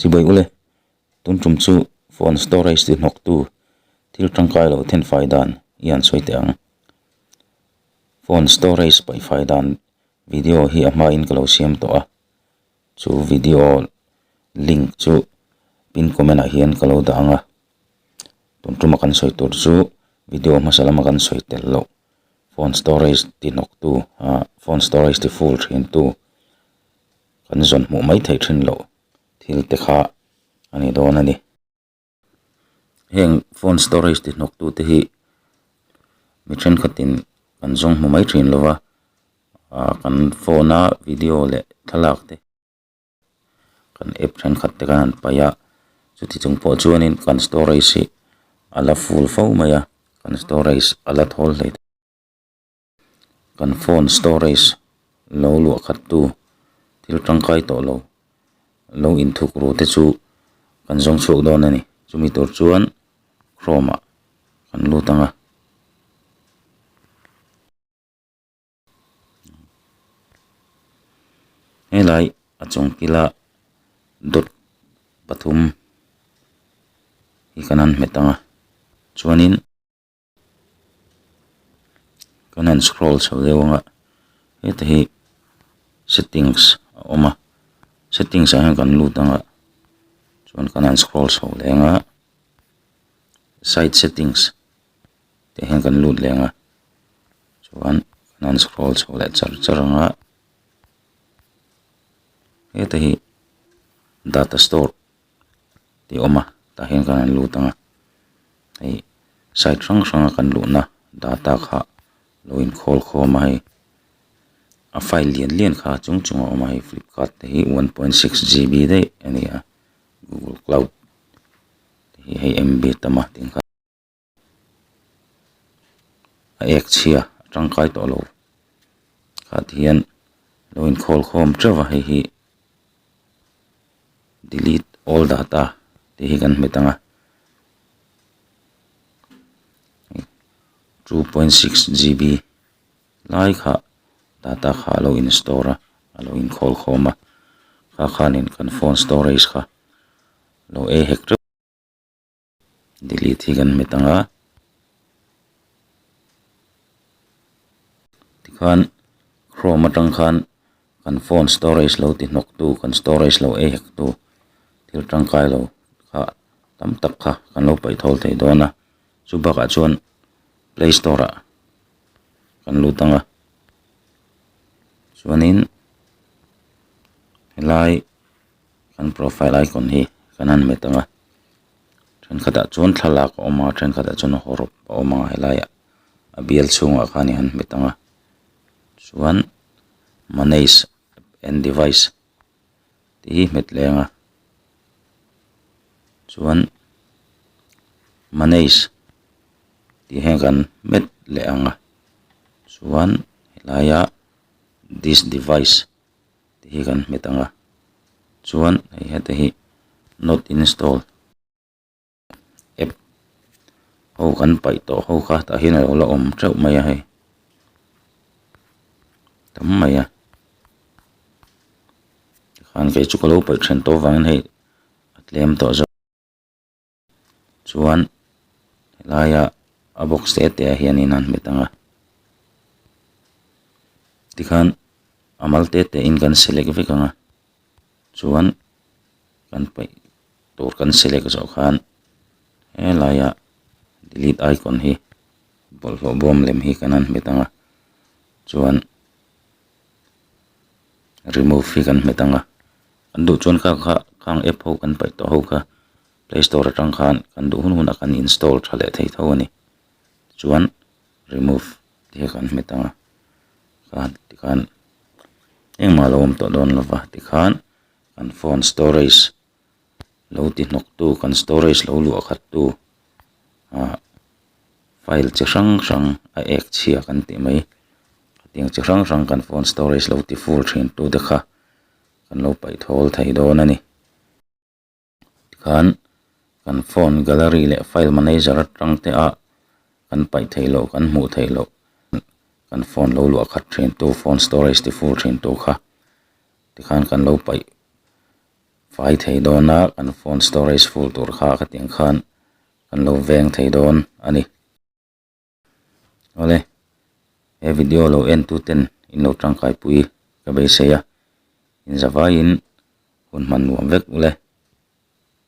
Chibawih ule, tun tum chu phone storage ti hnawk tu thil tangkai lo then fai dan i han sawi teh ang. Phone storage paih fai dan video hi a hma in ka lo siam tawh a, chu video link chu pin comment ah hian ka lo dah ang a. Tun tuma kan sawi tur chu video hmasa lama kan sawi tel loh phone storage ti hnawk tu ahh phone storage ti full thin tu kan zawn hmuh mai thei thin loh thil te kha a ni dawn a ni. Heng phone storage ti hnawk tu te hi mi thenkhat in kan zawng hmu mai thin lova ah kan phone a video leh thlalak te kan app thenkhat te kan han paih a chuti chung pawh chuan in kan storage hi a la full fo mai a kan storage a la thawl hle thei. Kan phone storage lo luah khat tu thil tangkai tawh lo lo in thuk ru te chu kan zawng chhuak dawn a ni. Chumi tur chuan Chrome ah kan lut ang a. Helai a chung kila dot pathum hi kan han hmet ang a. Chuanin. Kan han scroll chho deuh ang a, heta hi settings a awm a, settings ah hian kan lut ang a, chuan kan han scroll chho leh ang a, site settings tih ah hian kan lut leh ang a, chuan kan han scroll chho leh char char ang a, heta hi data store. tih awm a tah hian khan an lut ang a hei side hrang hrang a kan luhna data kha lo in khawl khawm a hei a file lian lian kha a chung chung a awm a hei flipkart te hi one point six GB daih a ni a google cloud te hi hei MB tamah tih ang kha-- a ek chhia a tangkai tawh lo khati hian lo in call khawm teuh a hei hi delete all data tih hi kan hmu thang a two point six GB lai kha data kha a lo in store a a lo in call khawm a kha khan in kan phone storage kha lo ei hek teuh. Delete hi kan hmet ang a, tikhan Chrome atang khan kan phone storage lo ti hnawk tu, kan storage lo ei hek tu thil tangkai lo kha tam tak kha kan lo paih thawl thei dawn a, chu bakah chuan Play Store ah kan lut ang a, chuanin helai-- Kan profile icon hi kan han met anga thenkhatah chuan thlalak a awm a thenkhatah chuan hawrhawk a awm a he laiah a bial chhungah khan i han met anga chuan manage and device tih hi hmet leh anga chuan manage tih hian kan met leh anga chuan helaia this device -- tih hi kan hmet ang a chuan hei hete hi not installed app ho kan paih tawh ho kha tah hian alo la awm teuh mai a hei tam mai a tikhan keichu ka lo paih ṭhen tawh vangin hei a tlem tawh zawk. chuan helaia a box te te ah hian in a han hmet ang a tikhan a mal te te in kan select vek ang a chuan kan paih tur kan select zawh khan helaia delete icon hi bawlhhlawh bawm lem hi kan han hmet ang a chuan-- remove hi kan hmet ang a kan duh chuan kha kha khang app ho kan paih tawh ho kha play store atang khan kan duh hun hunah kan install tha leh thei tho a ni tichuan remove te hi kan hmet ang a khan tikhan engmah lo awm tawh dawn lova tikhan kan phone storage -- lo ti hnawk tu kan storage lo luah khat tu ah file chi hrang hrang a ek chhia kan tih mai hetiang chi hrang hrang kan phone storage lo ti full thin tu te kha kan lo paih thawl thei dawn a ni tikhan kan phone gallery leh file manager atang te ah kan paih thei loh kan hmuh theih loh kan phone lo luah khat thin tu phone storage ti full thin tu kha tikhan kan lo paih-- Fai thei dawn a, kan phone storage full tur kha ka tiang khan kan lo veng thei dawn a ni. Awle, he video lo en tu ten in lo tangkai pui ka beisei a, in za vai in hun hman nuam vek uleh.